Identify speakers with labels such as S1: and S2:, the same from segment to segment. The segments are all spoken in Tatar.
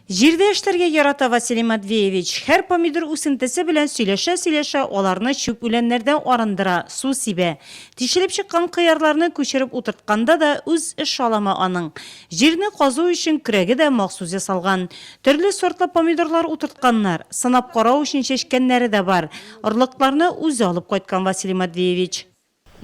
S1: Җирдә эшләргә ярата Василий Матвеевич. Һәр помидор үсентесе белән сөйләшә-сөйләшә, аларны чүп үләннәрдән арындыра, су сибә. Тишелеп чыккан кыярларны күчереп утыртканда да үз эш алымы аның. Җирне казу өчен көрәге дә махсус ясалган. Төрле сортлы помидорлар утыртканнар. Сынап карау өчен чәчкәннәре дә бар. Орлыкларны үзе алып кайткан Василий Матвеевич.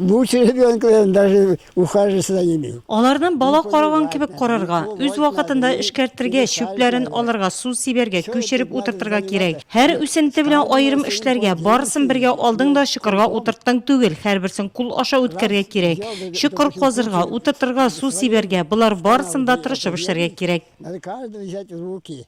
S1: Бу
S2: черебенкаларын даже ухаживаться да имею. Аларны бала караган
S1: кебек карарга, үз вакытында эшкәртергә, чүпләрен алырга, су сибәргә, күчереп утыртырга кирәк. Һәр үсенте белән аерым эшләргә, барысын бергә алдың да чокырга утырттың түгел, һәрберсен кул аша үткәргә кирәк. Чокыр казырга, утыртырга, су сибәргә, болар барысын да тырышып эшләргә кирәк. Надо каждого взять
S2: в руки.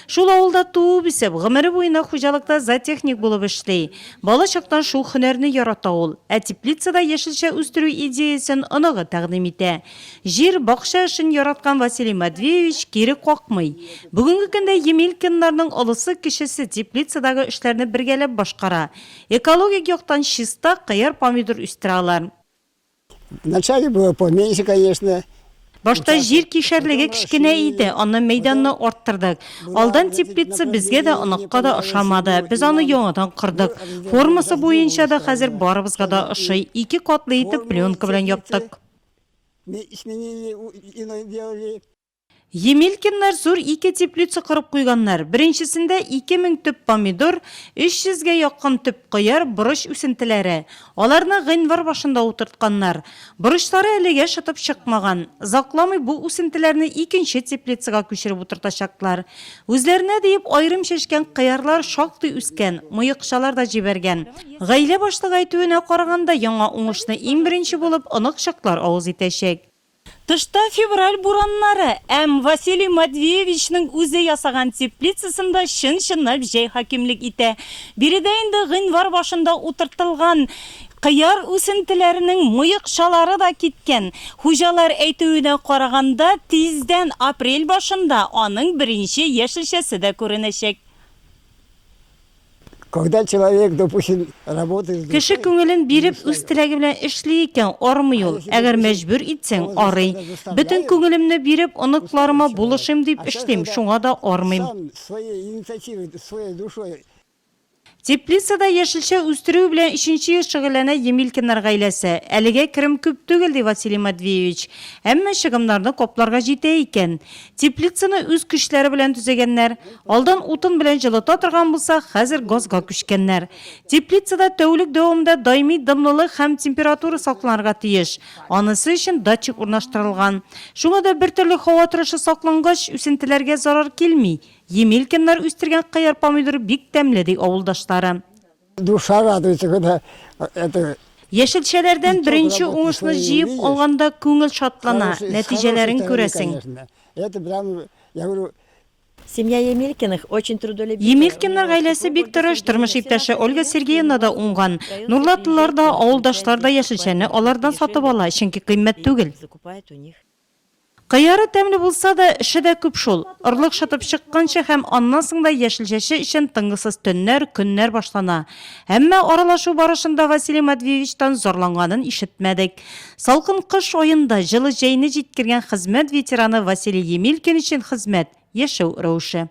S1: Шул авылда туып-үсеп, гомере буена хуҗалыкта зоотехник булып эшли. Бала чактан шул һөнәрне ярата ул. Ә теплицада яшелчә үстерү идеясен оныгы тәкъдим итә. Җир, бакча эшен яраткан Василий Матвеевич кире какмый. Бүгенге көндә Емелькиннарның олысы-кечесе теплицадагы эшләрне бергәләп башкара. Экологик яктан чиста, кыяр-помидор үстерә алар.
S2: Вначале было поменьше, конечно. Башта җир
S1: кишәрлеге кечкенә иде, аннан мәйданны арттырдык. Алдан теплица безгә дә, оныкка да ошамады. Без аны яңадан кордык. Формасы буенча да хәзер барыбызга да ошый. Ике катлы итеп пленка белән яптык. Емелькиннар зур ике теплица корып куйганнар. Беренчесендә ике мең төп помидор, өч йөзгә якын төп кыяр, борыч үсентеләре. Аларны гыйнвар башында утыртканнар. Борычлары әлегә шытып чыкмаган. Озакламый бу үсентеләрне икенче теплицага күчереп утыртачаклар. Үзләренә диеп аерым чәчкән кыярлар шактый үскән, мыекчалар да җибәргән. Гаилә башлыгы әйтүенә караганда, яңа уңышны иң беренче булып оныкчыклар авыз итәчәк. Тышта февраль бураннары, әм Василий Матвеевичның үзе ясаган теплицасында чын-чынлап җәй хакимлек итә. Биредә инде гыйнвар башында утыртылган кыяр үсентеләренең муекчалары да киткән. Хуҗалар әйтүенә караганда, тиздән, апрель башында, аның беренче яшелчәсе дә күренәчәк.
S2: Когда человек, допустим, работает... Кеше күңелен
S1: биреп, үз теләге белән эшли икән, армый ул. Әгәр мәҗбүр итсәң, арый. Бөтен күңелемне биреп, оныкларыма булышыйм дип эшлим, шуңа да армыйм. Теплицада яшелчә үстерү белән өченче ел шөгыльләнә Емелькиннар гаиләсе. Әлегә керем күп түгел, ди Василий Матвеевич. Әмма чыгымнарны капларга җитә икән. Теплицаны үз көчләре белән төзегәннәр. Алдан утын белән җылыта торган булса, хәзер газга күчкәннәр. Теплицада тәүлек дәвамында даими дымлылык һәм температура сакланырга тиеш. Анысы өчен датчик урнаштырылган. Шуңа да бертөрле һава торышы саклангач, үсентеләргә зарар килми. Емелькиннар үстергән кыяр-помидор бик тәмле, ди авылдашлары. Душа
S2: радуется, когда это Яшелчәләрдән
S1: беренче уңышны җыеп алганда күңел шатлана, нәтиҗәләрен күрәсең. Это прям,
S2: я говорю, Семья
S3: Емелькиных очень трудолюбивая. Емелькиннар гаиләсе
S1: бик тырыш, тормыш иптәше Ольга Сергеевна да уңган. Нурлатлылар да, авылдашлар да яшелчәне алардан сатып ала, чөнки кыйммәт түгел. Кыяры тәмле булса да, эше дә күп шул. Орлык шытып чыкканчы һәм аннан соң да яшелчәче өчен тынгысыз төннәр, көннәр башлана. Әмма аралашу барышында Василий Матвеевичтан зарланганын ишетмәдек. Салкын кыш аенда җылы җәйне җиткергән хезмәт ветераны Василий Емелькин өчен хезмәт, яшәү рәвеше.